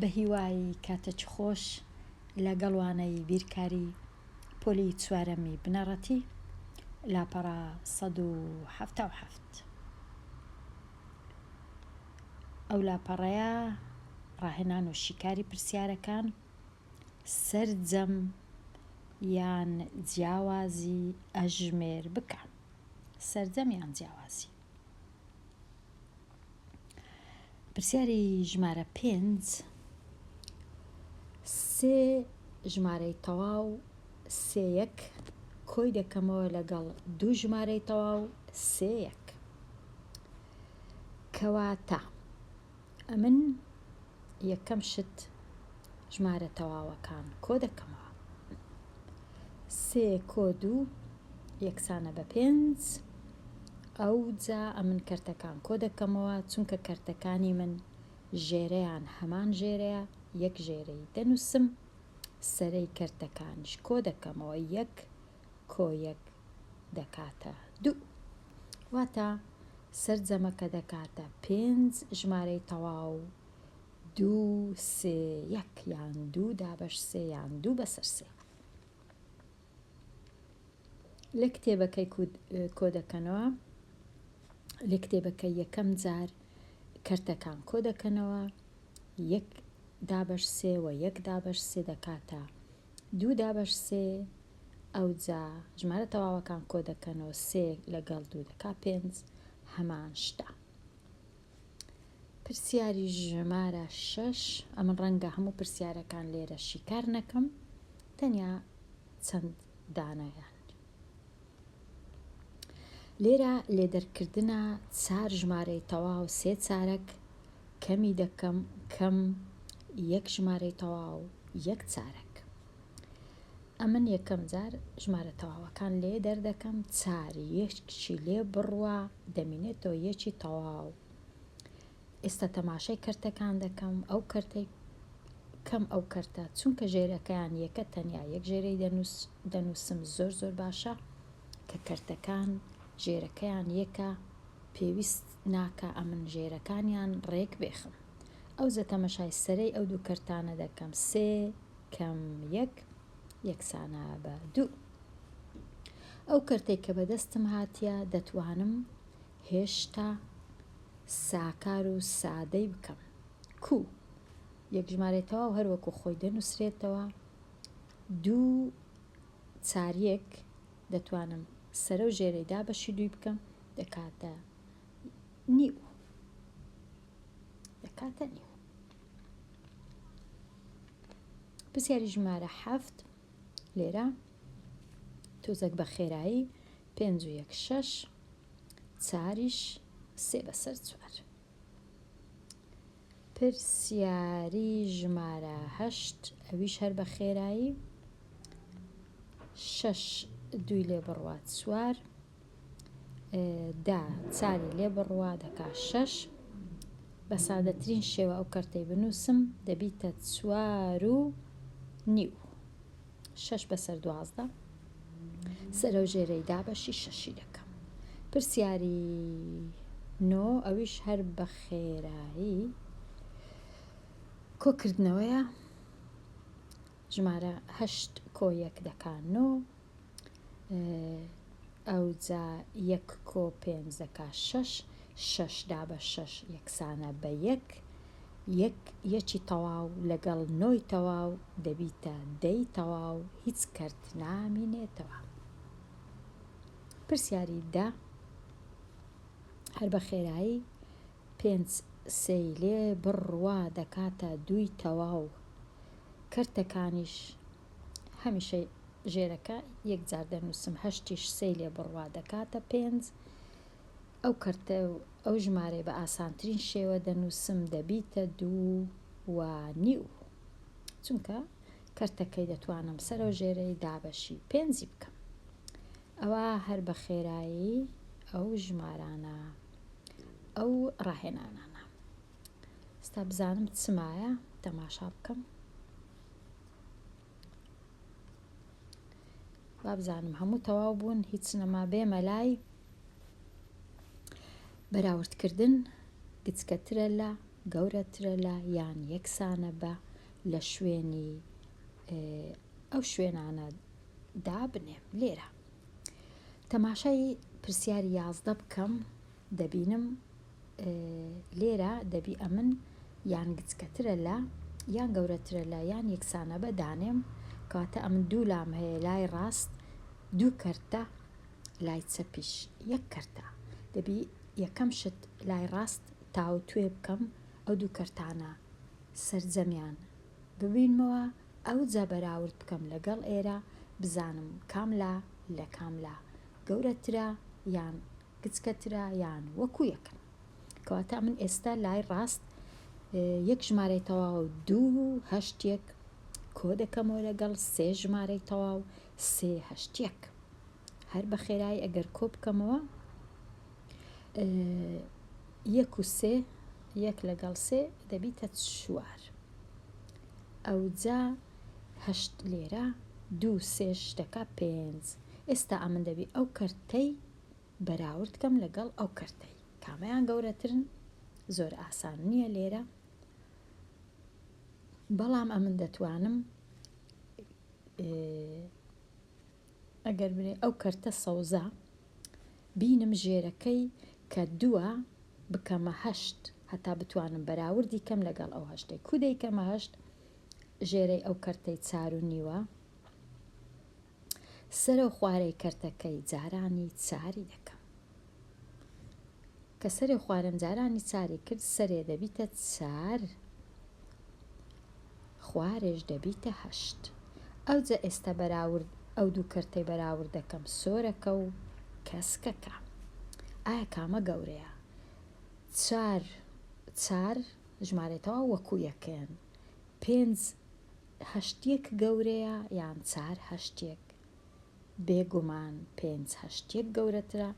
بەهیوای کاتەچ خۆش لە گەڵ وانەی بیرکاری پۆلی چوارەمی بنەڕەتی لاپەڕە سەد و حەفتا و حەفت ئەو لاپەڕەیە ڕاهێنان و شیکاری پرسیارەکان سەرجەم یان جیاوازی ئەژمێر بکە سەرجەم یان جیاوازی. پرسیاری ژمارە پێنج سێ ژمارەی تەواو سێیەک کۆی دەکەمەوە لەگەڵ دوو ژمارەی تەواو سێیەک کەواتە ئەمن یەکەم شت ژمارە تەواوەکان کۆ دەکەمەوە سێ کۆ دوو یەکسانە بە پێنج ئەو جا ئەمن کەرتەکان کۆ دەکەمەوە چونکە کەرتەکانی من ژێرەیان هەمان ژێرەیە یەک ژێرەی دەنووسم سەرەی کەرتەکانش کۆ دەکەمەوە یەک کۆیەک دەکاتە دوو. واتە سەرجەمەکە دەکاتە پێنج ژمارەی تەواو، دوو سێ یەک یان دوو دابەش سێ یان دوو بەسەر سێ. لە کتێبەکەی کۆدەکەنەوە لە کتێبەکە یەکەم جار کەرتەکان کۆ دەکەنەوە یەک دابەش سێ و یەک دابەش سێ دەکاتە دوو دابەش سێ، ئەوجا ژمارە تەواوەکان کۆ دەکەنەوە، سێ لەگەڵ دوو دەکا پێنج، هەمان شتە. پرسیاری ژمارە شەش، ئەمن ڕەنگە هەموو پرسیارەکان لێرە شیکار نەکەم، تەنیا چەند دانەیان. لێرە لێدەرکردنە چار ژمارەی تەواو سێ چارەک کەمی دەکەم کەم یەک ژمارەی تەواو یەک چارەک ئەمن یەکەم جار ژمارە تەواوەکان لێ دەردەکەم چار یەکچی لێ بڕوە دەمینێتەوە یەکی تەواو ئێستا تەماشای کەرتەکان دەکەم ئەو کەرتەی کەم ئەو کەرتە چونکە ژێرەکەیان یەکە تەنیا یەک ژێرەی دەنووسم زۆر زۆر باشە کە کەرتەکان ژێرەکەیان یەکە پێویست ناکە ئەمن ژێرەکانیان ڕێک بێخم ئەو زە تەمەشای سەرەی ئەو دوو کەرتانە دەکەم سێ کەم یەک یەکسانە بە دوو ئەو کەرتێک کە بەدەستم هاتیە دەتوانم هێشتا ساکار و سادەی بکەم کو؟ یەک ژمارەی تەواو هەر وەکو خۆی دەنووسرێتەوە، دوو چار یەک دەتوانم سەرە و ژێرەی دابەشی دووی بکەم دەکاتە نیو. دەکاتە نیو. پرسیاری ژمارە حەفت لێرە تۆزەک بە خێرایی پێنج و یەک شەش چاریش سێ بەسەر چوار. پرسیاری ژمارە هەشت ئەویش هەر بە خێرایی شەش دوی لێ بڕوا چوار دا چاری لێ بڕوا دەکا شەش بە سادەترین شێوە ئەو کەرتەی بنووسم دەبیتە چوار و نیو شەش بەسەر دوازدە سەرەوژێرەی دابەشی شەشی دەکەم پرسیاری نۆ ئەویش هەر بە خێرایی کۆکردنەوەیە ژمارە هەشت کۆ یەک دەکان نۆ ئەوجا یەک کۆ پێنج دەکا شەش شەش دا بە شەش یەکسانە بە یەک، یەک یەکی تەواو لەگەڵ نۆی تەواو دەبیتە دەی تەواو هیچ کەرت نامینێتەوە. پرسیاری دە، هەر بە خێرایی پێنج سێی لێ بڕوا دەکاتە دووی تەواو، کەرتەکانیش هەمیشە ژێرەکە یەکجار دەنووسم هەشتیش سێی لێ بڕوا دەکاتە پێنج، ئەو کەرتە و ئەو ژمارەی بە ئاسانترین شێوە دەنووسم دەبیتە دوو و نیو، چونکە کەرتەکەی دەتوانم سەرەوژێرەی دابەشی پێنجی بکەم. ئەوا هەر بە خێرایی ئەو ژمارانە، ئەو ڕاهێنانانە. ئێستا بزانم چ مایە تەماشا بکەم. وابزانم هەموو تەواو بوون هیچ نەما بێمە لای بەراوردکردن گچکەترە لە گەورەترە لە یان یەکسانە بە لە شوێنی ئەو شوێنانە دابنێم لێرە تەماشای پرسیاری یازدە بکەم دەبینم لێرە دەبی ئەمن یان گچکەترە لە یان گەورەترە لە یان یەکسانە بە دانێم کەواتە ئەمن دوو لام هەیە لای ڕاست دوو کەرتە لای چەپیش یەک کەرتە دەبی یەکەم شت لای ڕاست تاوتوێ بکەم ئەو دوو کەرتانە سرجەمیان ببینمەوە ئەو جا بەراورد بکەم لەگەڵ ئێرە بزانم کاملا لە کاملا گەورەترە یان کچکە ترا یان وەکو یەکن. کەواتە ئەمن ئێستا لای ڕاست یەک ژمارەی تەواو و دوو و هەشت یەک کۆ دەکەمەوە لەگەڵ سێ ژمارەی تەواو سێ هەشت یەک هەر بە خێرایی ئەگەر کۆ بکەمەوە یەک و سێ یەک لەگەڵ سێ دەبیتە چوار ئەوجا هەشت لێرە دوو سێش دەکا پێنج ئێستا ئەمن دەبی ئەو کەرتەی بەراورد کەم لەگەڵ ئەو کەرتەی کامەیان گەورەترن زۆر ئاسان نییە لێرە بەڵام ئەمن دەتوانم ئەگەر بێ ئەو کەرتە سەوزە بینم ژێرەکەی کە دووە بکەمە هەشت هەتا بتوانم بەراوردی کەم لەگەڵ ئەو هەشتەی کودەی کەمە هەشت ژێرەی ئەو کەرتەی چار و نیوە سەرەو خوارەی کەرتەکەی جارانی چاری دەکەم کە سەرێ خوارم جارانی چاری کرد سەرێ دەبیتە چار خوارێش دەبیتە هەشت ئەوجە ئێستا بەراورد ئەو دوو کەرتەی بەراورد دەکەم سۆرەکە و کەسکەکە ئایا کامە گەورەیە چار چار ژمارێتەوە وەکو یەکەن پێنج هەشتیەک گەورەیە یان چار هەشتیەک؟ بێ گومان پێنج هەشتیەک گەورەترە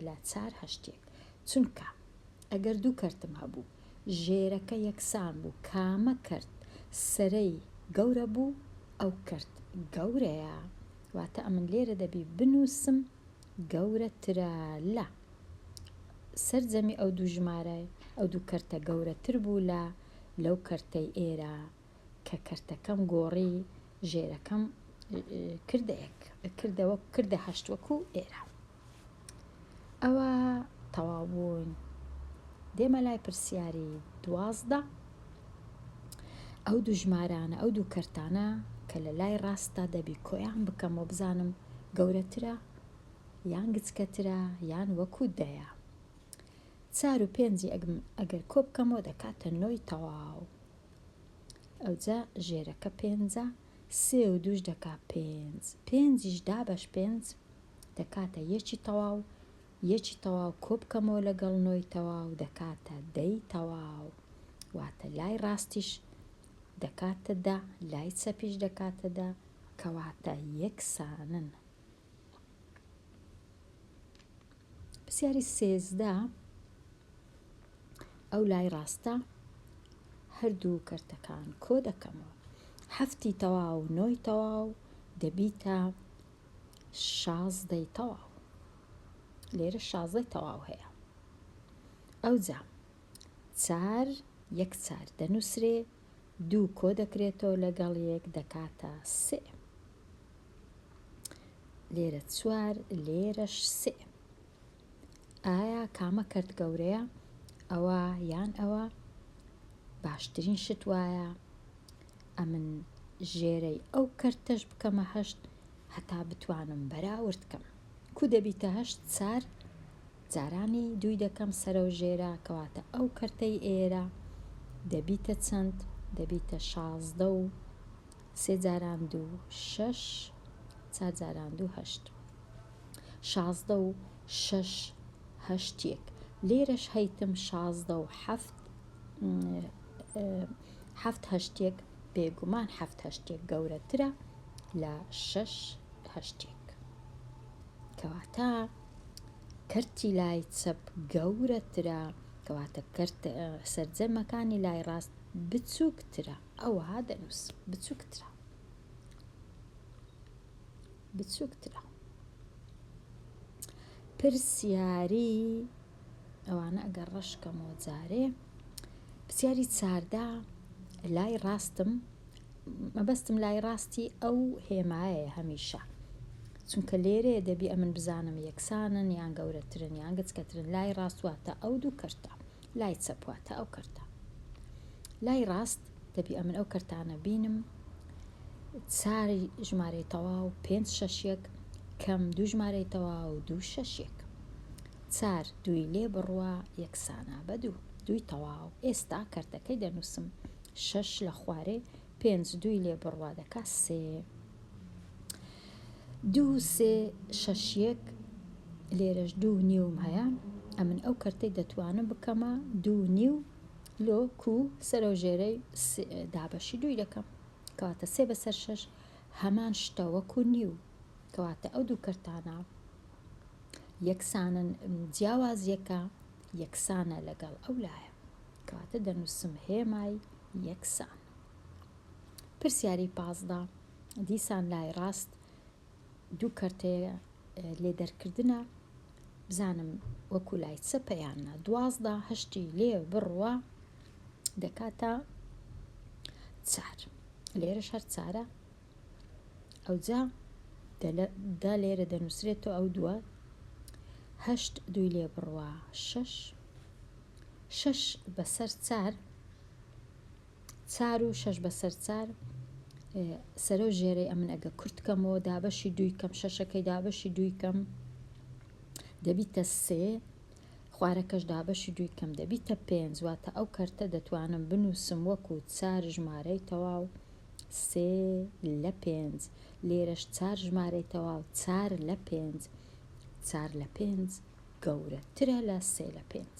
لە چار هەشتیەک چونکە ئەگەر دوو کەرتم هەبوو ژێرەکە یەکسان بوو کامە کەرت سەرەی گەورە بوو ئەو کەرت گەورەیە واتە ئەمن لێرە دەبی بنووسم گەورەترە لە. سەرجەمی ئەو دوو ژمارەی ئەو دوو کەرتە گەورەتر بوو لە لەو کەرتەی ئێرە کە کەرتەکەم گۆڕی ژێرەکەم کردە یەک کردەوە کردە هەشت وەکو ئێرە ئەوە تەواو بوون دێمە لای پرسیاری دوازدە ئەو دوو ژمارانە ئەو دوو کەرتانە کە لە لای ڕاستدا دەبی کۆیان بکەم و بزانم گەورەترە یان گچکەترە یان وەکو دەیە. چار و پێنجی ئەگەر کۆ بکەمەوە دەکاتە نۆی تەواو. ئەوجا ژێرەکە پێنجە سێ و دووش دەکا پێنج پێنجیش دابەش پێنج دەکاتە یەکی تەواو یەکی تەواو کۆ بکەمەوە لەگەڵ نۆی تەواو دەکاتە دەی تەواو واتە لای ڕاستیش دەکاتە دە لای چەپیش دەکاتە دە کەواتە یەکسانن. پرسیاری سێزدە، ئەو لای ڕاستە هەردوو کەرتەکان کۆ دەکەمەوە هەفتی تەواو نۆی تەواو دەبیتە شازدەی تەواو لێرە شازدەی تەواو هەیە ئەوجا چار یەک چار دەنووسرێ دوو کۆ دەکرێتەوە لەگەڵ یەک دەکاتە سێ. لێرە چوار لێرەش سێ. ئایا کامە کەرت گەورەیە؟ ئەوە یان ئەوە باشترین شت وایە ئەمن ژێرەی ئەو کەرتەش بکەمە هەشت هەتا بتوانم بەراورد کەم کو دەبیتە هەشت چار جارانی دووی دەکەم سەرەو ژێرە کەواتە ئەو کەرتەی ئێرە دەبیتە چەند دەبیتە شازدە و سێ جاران دوو شەش چار جاران دوو هەشت شازدە و شەش هەشت یەک لێرەش هەیتم شازدە و حەفت حەفت هەشتێک بێگومان حەفت هەشتێک گەورەترە لە شەش هەشتێک کەواتە کەرتی لای چەپ گەورەترە، کەواتە کەرتە سەرجەمەکانی لای ڕاست بچووکترە. ئەوەها دەنووس بچووکترە. بچووکترە. پرسیاری ئەوانە ئەگەر ڕەشکەمەوە جارێ پرسیاری چاردە لای ڕاستم مەبەستم لای ڕاستی ئەو هێمایەیە هەمیشە. چونکە لێرەیە دەبی ئەمن بزانم یەکسانن یان گەورەترن یان گچکەترن لای ڕاست واتە ئەو دوو کەرتە لای چەپ واتە ئەو کەرتە لای ڕاست دەبی ئەمن ئەو کەرتانە بینم چاری ژمارەی تەواو پێنج شەشێک کەم دوو ژمارەی تەواو دوو شەشێک چار دوی لێ بڕوا یەکسانە بە دوو دوی تەواو ئێستا کەرتەکەی دەنووسم شەش لە خوارێ پێنج دووی لێ بڕوا دەکا سێ. دوو و سێ شەش یەک لێرەش دوو نیوم هەیە ئەمن ئەو کەرتەی دەتوانم بکەمە دوو نیو لۆ کو سەرەو ژێرەی دابەشی دووی دەکەم کەواتە سێ بەسەر شەش هەمان شتە وەکو نیو کەواتە ئەو دوو کەرتانە یەکسانن جیاوازیەکە یەکسانە لەگەڵ ئەو لایە کەواتە دەنووسم هێمای یەکسان. پرسیاری پازدە دیسان لای ڕاست دوو کەرتەیە لێ دەرکردنە بزانم وەکو لای چەپە یان نا دوازدە هەشتی لێ بڕوە دەکاتە چار لێرە شەر چارە ئەوجا دا لێرە دەنووسرێتەوە ئەو دووە هەشت دوی لێ بڕوە شەش شەش بەسەر چار چار و شەش بەسەر چار سەرۆ ژێرەی ئەمن ئەگە کورتکەمەوە دابەشی دووی کەم شەشەکەی دابەشی دووی کەم دەبیتە سێ خوارەکەش دابەشی دووی کەم دەبیتە پێنج واتە ئەو کەرتە دەتوانم بنووسم وەکو چار ژمارەی تەواو سێ لە پێنج لێرەش چار ژمارەی تەواو چار لە پێنج چار لە پێنج گەورەترە لە سێ لە پێنج.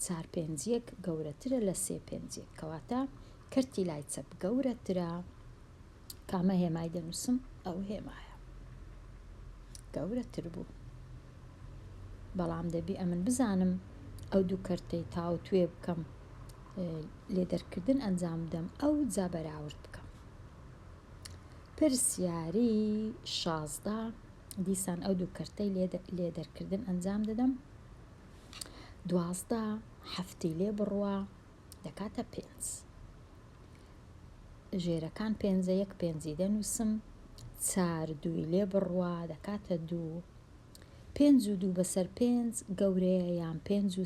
چار پێنج یەک گەورەترە لە سێ پێنج یەک کەواتە کەرتی لای چەپ گەورەترە کامە هێمای دەنووسم ئەو هێمایە گەورەتر بوو بەڵام دەبی ئەمن بزانم ئەو دوو کەرتەی تاوتوێ بکەم لێ دەرکردن ئەنجام بدەم ئەو جا بەراورد بکەم پرسیاری شازدە دیسان ئەو دوو کەرتەی لێ دەرکردن ئەنجام دەدەم دوازدە هەفتی لێ بڕوە دەکاتە پێنج ژێرەکان پێنجە یەک پێنجی دەنووسم چار دووی لێ بڕوە دەکاتە دوو پێنج و دوو بەسەر پێنج گەورەیە یان پێنج و